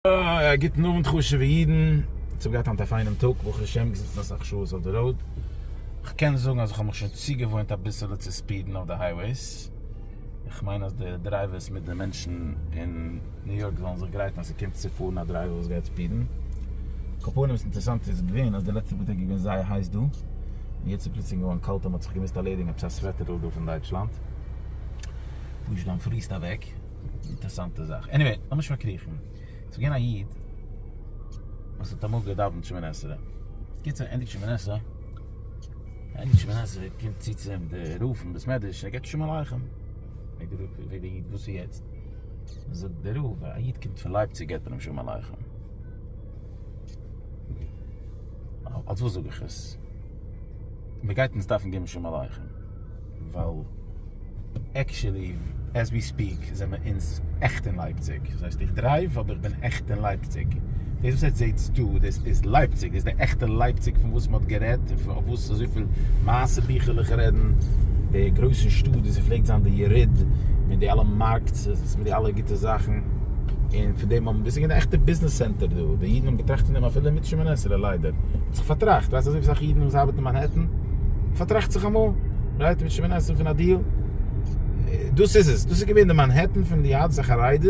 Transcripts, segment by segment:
א גוטן אוונט חשובע אידן, איך האב געהאט היינט א פיינעם טאג ברוך השם, געזיצן אסאך שעות אויף די ראוד, איך קען זאגן אז איך האב מיך שוין צוגעוואוינט אביסעלע צו ספידן אויף די הייוועיס, איך מיין אז די דרייווערס מיט די מענטשן אין ניו יארק זאלן זיך גרייטן אז ס'קומט צו פארן א דרייווער וואס גייט ספידן, על כל פנים וואס אינטערעסאנט איז געווען אז די לעצטע פאר טעג איז געווען זייער הייס דא, און יעצט איז פלוצלינג געווארן קאלט און מ'האט זיך געמוזט ארלעדיגן עפעס א סוועטער'ל דא פון דייטשלאנד, פשוט אנטפריסט אוועק. אינטערסאנטע זאך, עניוועי, לאמיר נישט פארקריכן, ס'איז געווען א איד וואס האט אמאל געדאווענט שמונה עשרה, בקיצור ענדיגט שמונה עשרה, ענדיגט שמונה עשרה קומט צו צו אים דער רב פון בית מדרש און ער געבט שלום עליכם, פרעגט דער רב, ווער דער איד, וואס איז יעצט? זאגט דער רב, א איד קומט פון לייפציג געבט מען אים שלום עליכם, אלס וואס זאג איך עס? מען גייט אונז דארפן געבן שלום עליכם? ווייל עקשעלי עז ווי ספיעק זעמער אינז עכט אין לייפציג, דאס הייסט איך דרייוו אבער איך בין עכט אין לייפציג, דאס וואס עטס זעטס דא דאס איז לייפציג, דאס איז די עכטע לייפציג פון וואס מ'האט גערעדט און אויף וואס אזויפיל מעשה ביכלעך רעדן, די גרויסע שטאט ווי ס'פלעגט זיין די יריד מיט די אלע מארקטס מיט די אלע גוטע זאכן, און פון דעם האבן, דאס איז געווען די עכטע ביזנעס סענטער דא, די אידן האבן געטראכט פון דעם אפילו מיט שמונה עשרה ליידער האט זיך פארטראכט, ווייסט אזויפיל אסאך אידן וואס ארבעטן. מאנהעטן, פארטראכט זיך אמאל, רעדט מיט שמעון עסער פון א דיעל, דאס איז עס, דאס איז געווען די מאנהעטן פון די יהדות החרדית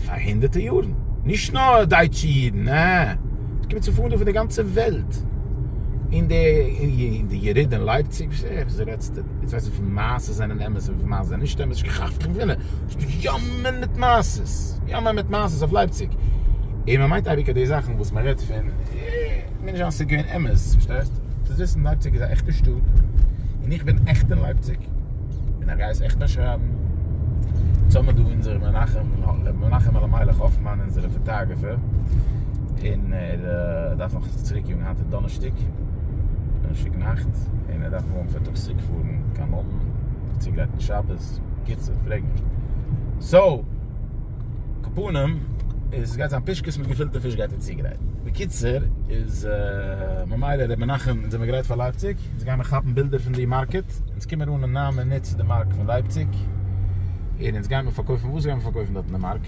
פאר הונדערטער יארן, נישט נאר דייטשע אידן, נע, עס קומט צו פארן דא פון די גאנצע וועלט, און די יריד אין לייפציג, וואס רעדסטו, יעצט ווייס איך וויפיל מעשות זענען אמת און וויפיל מעשות זענען נישט אמת, שכח פון ווען עס איז געיאמען מיט מעשות, געיאמען מיט מעשות אויף לייפציג, און מען מיינט אייביג אז די זאכן וואס מען רעדט פון. קען זיין ס'איז געווען אמת, פארשטייסט? דאס וויסן לייפציג איז א עכטע שטאט, און איך בין עכט אין לייפציג, און איך גיי עס עכט באשרייבן, אונז האבן דא אונזער מנחם, ר' מנחם אלימלך האפמאן אונזערע פאטאגרעפער, און ער דארף נאך צוריק יאגן, היינט איז דאנערשטאג, דאנערשטאג נאכט, און ער דארף מארגן פארטאגס צוריק פארן קיין לונדון, זיך צוגרייטן שבת, בקיצור, פרעג נישט. סאו. קופונים איז גייט זיין פישקעס מיט געפילטע פיש גייט ער צוגרייטן בקיצור איז ממילא ר' מנחם אונז זעמיר גרייט פאר לייפציג אונז גיימיר כאפן בילדער פון די מארקעט אונז קומער אן אין ניין מינוט צו די מארק פון לייפציג און אונז גיימיר פארקויפן וואס גיימיר פארקויפן דארט אין די מארק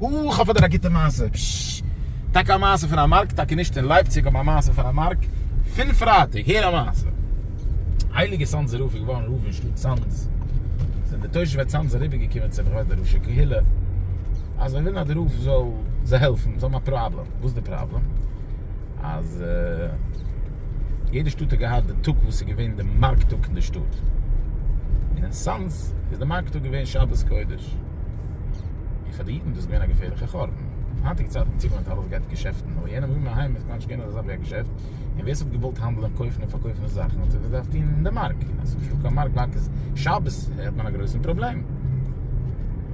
אה איך האב פאר דיר א גוטע מעשה פששש טאקע א מעשה פון א מארק טאקע נישט אין לייפציג אבער א מעשה פון א מארק פון פרייטאג הער א מעשה. הייליגער צאנזער רב איז געווארן רב אין שטאט צאנז, זענען די תושבי צאנז אריבערגעקומען צו כבוד די ראשי קהילה אז זיי ווילן אז די רב זאל זיי העלפן, זיי האבן א פראבלעם, וואס איז די פראבלעם? אז יעדע שטאט האט געהאט די טאג וואס איז געווען די מארק טאג אין די שטאט, און אין צאנז איז די מארק טאג געווען שבת קודש, און פאר די אידן איז דאס געווען א געפערליכע חורבן, היינטיגע צייטן צו מען האט אלעס געהאט געשעפטן, אבער יענע ימי הים איז כמעט נישט געווען אזא זאך ווי א געשעפט. און ווער ס'האט געוואלט האנדלען קויפן און פארקויפן די זאכן האט עס געדארפט טוהן אין די מארק, און אז ס'איז נישטא קיין מארק מארק איז שבת האט מען א גרויסן פראבלעם.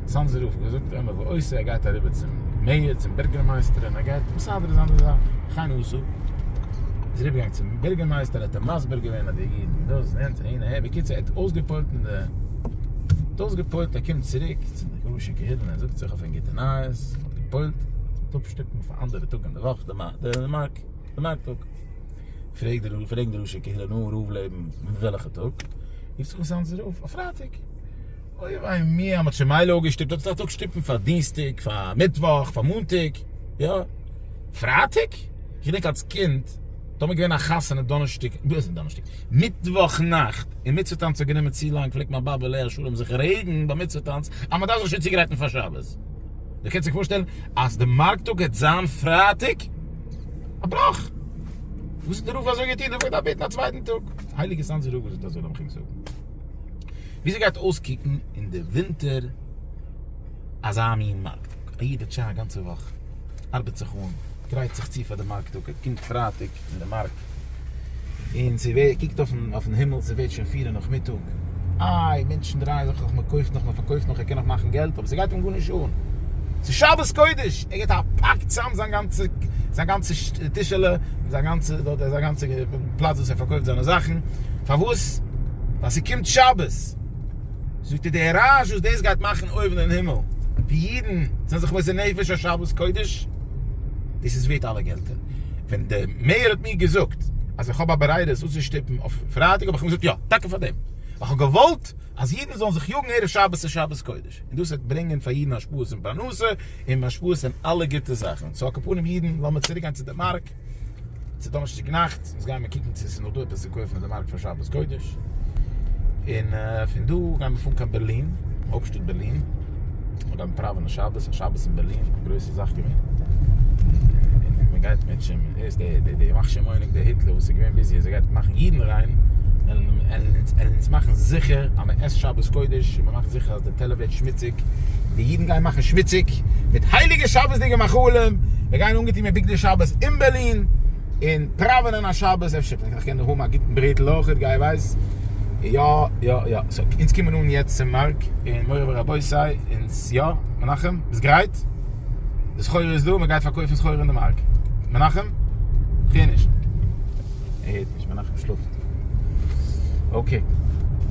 צאנזער רב האט געזאגט עמך ועושה ער גייט אריבער צום מעיאר צום בירגערמייסטער און ער גייט מסדר זיין די זאכן, וכן עשו, איז ער אריבערגעגאנגען צום בירגערמייסטער האט אים מסביר געווען אז די אידן און דאס און יענץ אהין אהער, בקיצור ער האט אויסגעפוילט און די האט אויסגעפוילט ער קומט צוריק צו די גרוישע קהילה און ער זאגט זיך אויף אין גוטע נייעס, מען האט געפוילט, מען וועט אפשטופן אויף א אנדערע טאג אין די וואך די מארק. בנײַ טאָג. פֿרעגט דער רבֿ, פֿרעגן די ראשי קהילה, נו, רבֿ לעבן, מיט וועלכע טאָג? רופֿט זיך אויס אַנדזער רבֿ, אויף פֿרײַטיק. אוי וויי מיר, מע האָט שוין מילא אָפּגעשטופּט, אָט איז דאָך אַ טאָג שטופּן פֿאַר דינסטיק, פֿאַר מיטוואָך, פֿאַר מאָנטיק. יאָ, פֿרײַטיק? איך געדענק אַלס קינד, טאָמער געווען אַ חתונה דאָנערשטיק, דאָס איז דאָנערשטיק, מיטוואָך-נאַכט, און מיצווה-טאַנץ האָט גענומען צו לאַנג, פֿלעגט מײַן באָבע, עליה-השלום, זיך רעגן בײַם מיצווה-טאַנץ, אַז מע דאַרף זיך שוין צוגרייטן פֿאַר שבת. איר קענט זיך פארשטעלן אז די מארק טאג העט זיין פרייטאג? א בראך! וואס האט די רב אזוי געטון? דארף ער געדארפט בעטן א צווייטן טאג? הייליגע סאנזער רב זאגט אזוי לאמיך ענק זאגן וויאזוי גייט אויסקוקן אין די ווינטער אזא מין מארק טאג? א איד האט שוין א גאנצע וואך ארבעט זיך אן, גרייט זיך צו פאר די מארק טאג, ער קומט פרייטאג, אין די מארק, און זי קוקט אויפן הימל, ס'ווערט שוין פֿיר אין נאכמיטאג, איי, מענטשן דרייען זיך נאך, מ'קויפט נאך, מ'פארקויפט נאך, ער קען נאך מאכן געלט, אבער ס'גייט אים גארנישט אן, ס'איז שבת קודש, ער געבט א פאק צוזאם זיין גאנצע, זיין גאנצע טישעלע, און זיין גאנצע, זיין גאנצע פלאץ וואס ער פארקויפט זיינע זאכן, פארוואס? ווייל ס'קומט שבת! זאגט ער, די רעש וואס דאס גייט מאכן אויבן אין הימל, ווי אידן זענען זיך מוסר נפש אויף שבת קודש, דאס איז ווערט אלע געלטער. ווען דער מעיאר האט מיר געזאגט אז איך האב א ברירה עס אפצושטופן אויף פרייטאג האב איך אים געזאגט יא, טאקע פאר דעם ווייל כ'האב געוואלט אז אידן זאלן זיך יאגן ערב שבת צו שבת קודש און דאס וועט ברענגען פאר אידן השפעות אין פרנסה און השפעות אין אלע גוטע זאכן, סאו אקאפנים אידן לאמיר צוריק גיין צו די מארק צו דאנערשטאג נאכט, אונז גיימיר קוקן צו עס איז נאך דא עפעס צו קויפן אין די מארק פאר שבת קודש, און פון דא גיימיר פארן קיין בערלין, הויפטשטאט בערלין. מיר האבן פראווענען שבת, א שבת אין בערלין, א גרויסע זאך געווען, און מען גייט מיט שמן, ער איז דער דער מכשיר מנהיג דער היטלער וואס איז געווען ביזי אז ער גייט מאכן אידן ריין, ער אונז מאכן זיכער אז מען עסט שבת קודש, און מען מאכט זיכער אז די טעלער ווערט שמוציג, די אידן גייען מאכן שמוציג מיט הייליגע שבת'דיגע מאכלים, מיר גייען אנגעטון מיט בגדי שבת אין בערלין, און פראווענען א שבת, אפשר קען איך דאך האבן א גוטן ברעטל אויך, גיי ווייס. יא יא יא, סאו אונז קומען אן יעצט צום מארק, און מורי ורבותי אונז יא, מנחם ביסט גרייט? די סחורה איז דא, מען גייט פארקויפן סחורה אין די מארק, מנחם? כ'הער נישט. ער הערט נישט, מנחם שלאפט. אקעי.